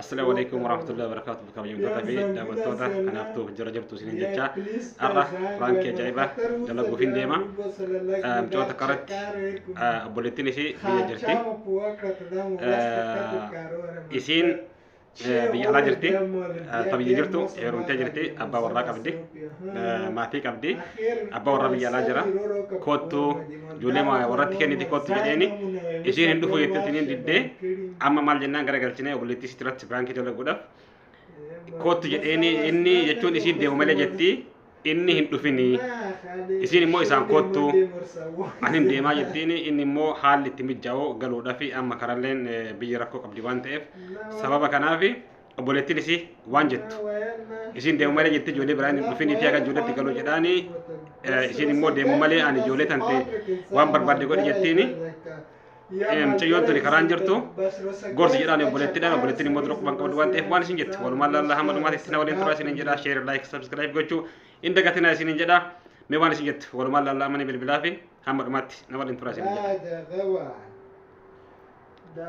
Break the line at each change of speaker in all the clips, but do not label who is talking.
Assalamu alaikum warahmatullahi wabarakatuh bakka bayyamtoota fi daawwattoota kanaaf tuuf jira jirtu isinin jecha har'a baankii ajaa'iba dalaguuf hin deema micoota karatti obboleettiin ishii biyya jirti isiin biyya alaa jirti ta biyya jirtu heerumtee jirti abbaa warraa qabdi maatii qabdi abbaa warra biyya alaa jira koottu ijoollee warratti kenniti koottu jedheeni isiin hin dhufu jettee isiniin diddee amma maal jennaan gara galchinee obboleettii sitti irratti biraankii dalaguudhaaf koottu jedheeni inni jechuun isiin deemu malee jetti inni hin dhufini isiin immoo isaan koottu ani hin deemaa jettiin inni immoo haalli itti mijaa'oo galuudhaaf amma karalleen biyya rakkoo qabdi waan ta'eef sababa kanaaf obboleettiin isii waan jettu isiin deemu malee jetti ijoollee biraan hin dhufin itii akka ijoolleetti galu jedhaani isiin immoo deemu malee ani ijoollee tante waan barbaadde godhi jettiini mucayyoon tuni karaan jirtu gorsi jedhaan obboleettidhaan obboleettiin immoo dura quban qabdu waan ta'eef waan isin jettu walumaan laallaa hamma dhumaatti isin waliin tura isin jedha sheer laayik sabskiraayib gochuu hin dagatinaa isin jedha mee waan isin jettu walumaan laallaa amani bilbilaa fi hamma dhumaatti na waliin tura isin jedha هذا غوان ده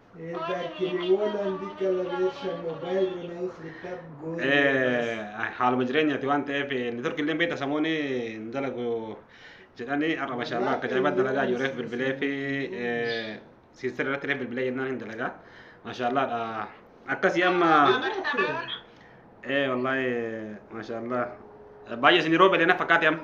haaluma jireenyaati waan ta'eef inni turki illee beekta samooni hin dalagu jedhanii har'a mashaallaa akka jaa'ibaa dalagaa ijoolleef bilbilee fi siistir irratti illee bilbilee jennaan hin dalagaa mashaallaadha akkasii amma ee wallaahi mashaallaa baay'ee isin yeroo beelena fakkaate amma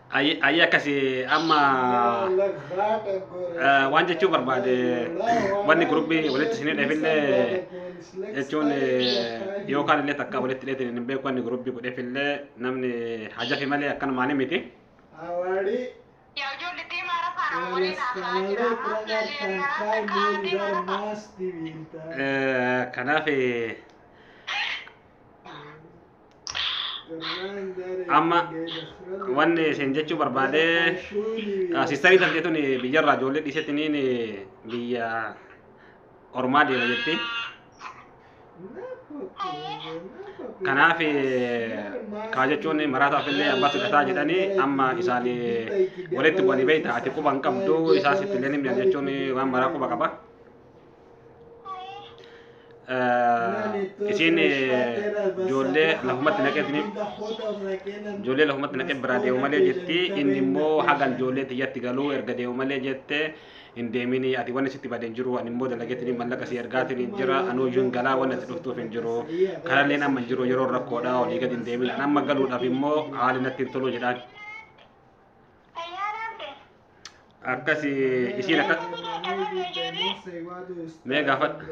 Ayi ayi akkasi amma eh, waan jechuu barbaade wanni gurubbii walitti isin hidheefillee jechuun eh, yookaan illee takka walitti hidheetiin hin beeku wanni gurubbii godheefillee namni hajafi malee akkanumaan miti. Yaa ijoollee deemaa rafaa nama waliin haasaa jira. Ammaaf yaalee yennaa rafaa kaa deemaa rafaa. Eh, Kanaaf eh, amma wanni isin jechuu barbaade sistarii tan jetun biyyarraa ijoollee dhiisetiniin biyya ormaa deema jetti kanaaf kaa jechuun maraataaf illee abbatu dhataa jedhanii amma isaan walitti bu'anii beeyta ati quba hin qabdu isaas itti illee ni mi'a jechuun waan maraa quba qaba isiin ijoollee lafumatti naqeetini ijoollee lafumatti naqee biraa deemu malee jetti inni immoo hagan ijoollee tiyyatti galuu erga deemu malee jette hin deemini ati wanni sitti badeen jiru ani immoo dalageetini mallaqa si ergaatiin hin jira anuu iyyuu hin galaa wanni ati dhuftuuf hin jiru karalleen amma hin jiru yeroo rakkoodha olii gadi hin deemin an amma galuudhaaf immoo haali natti hin tolu jedhaan Akkasi isiin akka Mee gaafadha.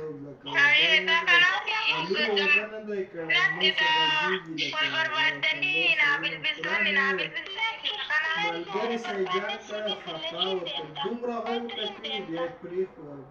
Thank you.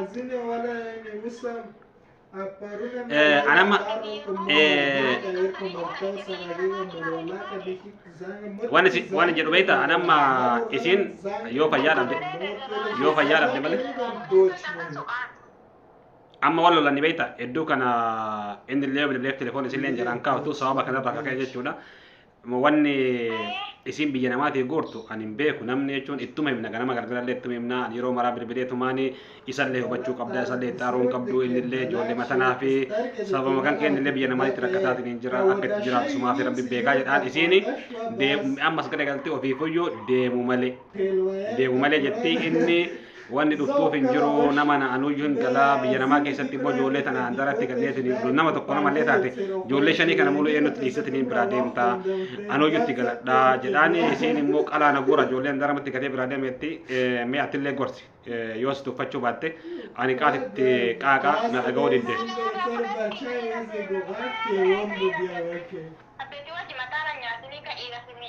Azine wala ene musam. Aparuna Eh,
anama- eh, Waan isin- waan hin jedhu beektaa? Ani amma isin yoo fayyaa dhabde- yoo fayyaa dhabde malee. amma wal lolanii beekta hedduu kana inni illee bilbileef telefoon isillee hin jiraan kaa'utu sababa kanarraa kaka'e jechuudha Amma wanni isiin biyya namaatii guurtu ani hin beeku namni jechuun ittuma himna ganama galgalallee ittuma himna ani yeroo maraa bilbilee tumaani isallee hubachuu qabda isallee itti aaruun qabdu innillee ijoollee matanaa fi sababuma kan keenyallee biyya namaatitti rakkataatiin hin jira akka itti jiraatu sumaa fi rabbi beekaa jedhaan isiini deemu ammas garagaltee ofiifuyyuu deemu malee. deemu malee jetti inni wanni dhuftuuf hin jiru nama na anuyyuu hin galaa biyya namaa keessatti immoo ijoollee tana handaratti galleetiin nama tokko namallee taate ijoollee shanii kana muluu eenyutti dhiisatiin biraa deemta anuyyutti galadha jedhaan isiin immoo qalaa na guura ijoollee handaramatti gatee biraa deemetti mee attillee gorsi yoo si tuffachuu baatte ani qaatitti qaaqa na dhaga'uu didde. Abbeti
wajji mataara nyaatini ka dhiira simi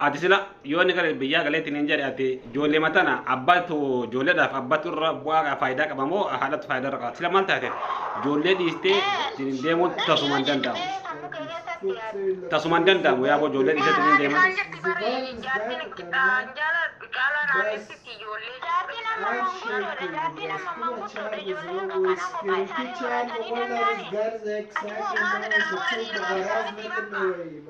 Ati sila
yoo inni gara biyyaa galeetti niin jedhe ati ijoollee matana abbatu ijoolleedhaaf abbatu irra bu'aa faayidaa qaba moo haadhatu faayidaa irra qaba sila maal taate ijoollee dhiistee ittiin deemuun tasuma hin danda'amu. Tasuma hin danda'amu yaa boo ijoollee dhiistee ittiin deemuun. Girl,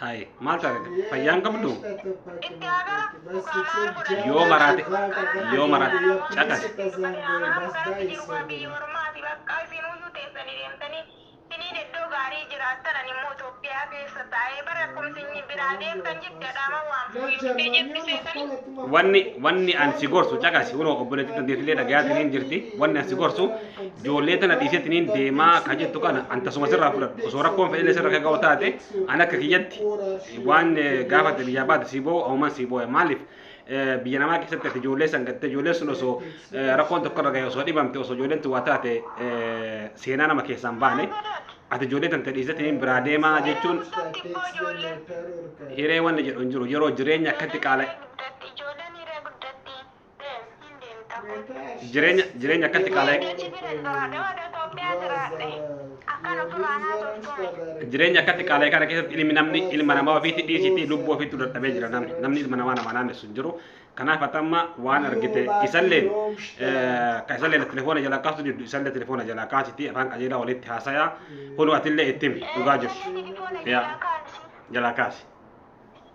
Hayi maal taate fayyaan qabdu Yoo maraate, yoo maraate, caqasi. wanni wanni an si gorsu caqasi kunoo obboleetti dandeetilee dhagayaa siniin jirti wanni an si gorsu ijoollee tana dhiiseetiniin deemaa ka jettu kana an tasuma sirraa fudhadhu osoo rakkoon fedhillee sirra kaga'u taate an akka kiyyatti waan gaafate biyyaa baate sii boo'u ahuman sii boo'e maaliif biyya namaa keessatti ati ijoollee san gatte ijoolleen sun osoo rakkoon tokko irra gahe osoo dhibamte osoo ijoolleen tun waa taate seenaa nama keessaan baane ati ijoollee tante dhiiseetiniin biraa deemaa jechuun hiree wanni jedhu hin jiru yeroo jireenya akkatti qaala Ijoolleen hiree guddatti. Jireenya jireenya akkatti qaala'e jireenya akkatti qaala'e kana keessatti ilmi namni ilma namaa ofiitti dhiisiitii lubbuu ofiitti dadhabee jira namni namni ilma namaa namaa naannessu hin jiru. Kanaaf atamma waan argite isalleen kan isalleen telefoona jalaa kaasu diddu isallee telefoona jalaa kaasiti afaan qajeelaa walitti haasaya kunu atillee itti himi dhugaa jirtu jalaa kaasi.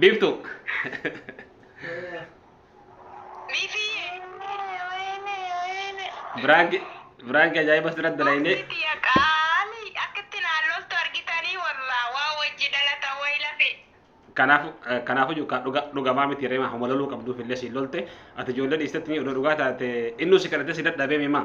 Biiftu. Biifiyye. Biraanki biraanki ajaa'iba asirratti dalaynee. Asitti yaa qaali akkatti naan loltu argitanii wallaa waa wajji dhalata wayi lafe. Kanaaf kanaaf iyyuu ka dhuga dhugamaa miti reema homa loluu qabduuf illee siin lolte ati ijoollee dhiistetti ni odoo dhugaa taate innuu si kadhatee si dadhabee mimaa.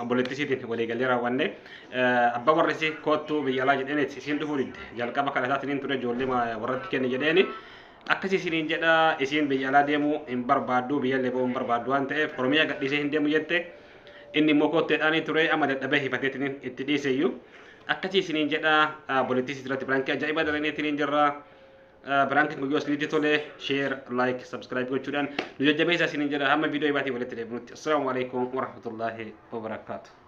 Obboleettii isiitiif waliigallee raawwanne. Abbaa warri isii koottuu biyya alaa jedheen isiin dhufuu didde. Jalqaba kadhataatiniin ture ijoollee warratti kenne jedheeni. Akkasii isiniin jedha isiin biyya alaa deemuu hin barbaaddu biyyallee ba'uu hin barbaaddu waan ta'eef Oromiyaa gadhiisee hin deemu jette. Inni immoo kootteedhaanii ture amma dadhabee hifateetiniin itti dhiiseyyuu. Akkasii isiniin jedha obboleettii isiitirratti birankii ajaa'ibaa dalagneetiniin jirra. Biraankiin guyyoo isinitti tole share like subscribe gochuudhaan nu jajjabeessa isiniin jedha hamma viidiyoo ibaatii walitti deebinutti. Assalaamu alaikum warahmatullaahi wabarakaatuh.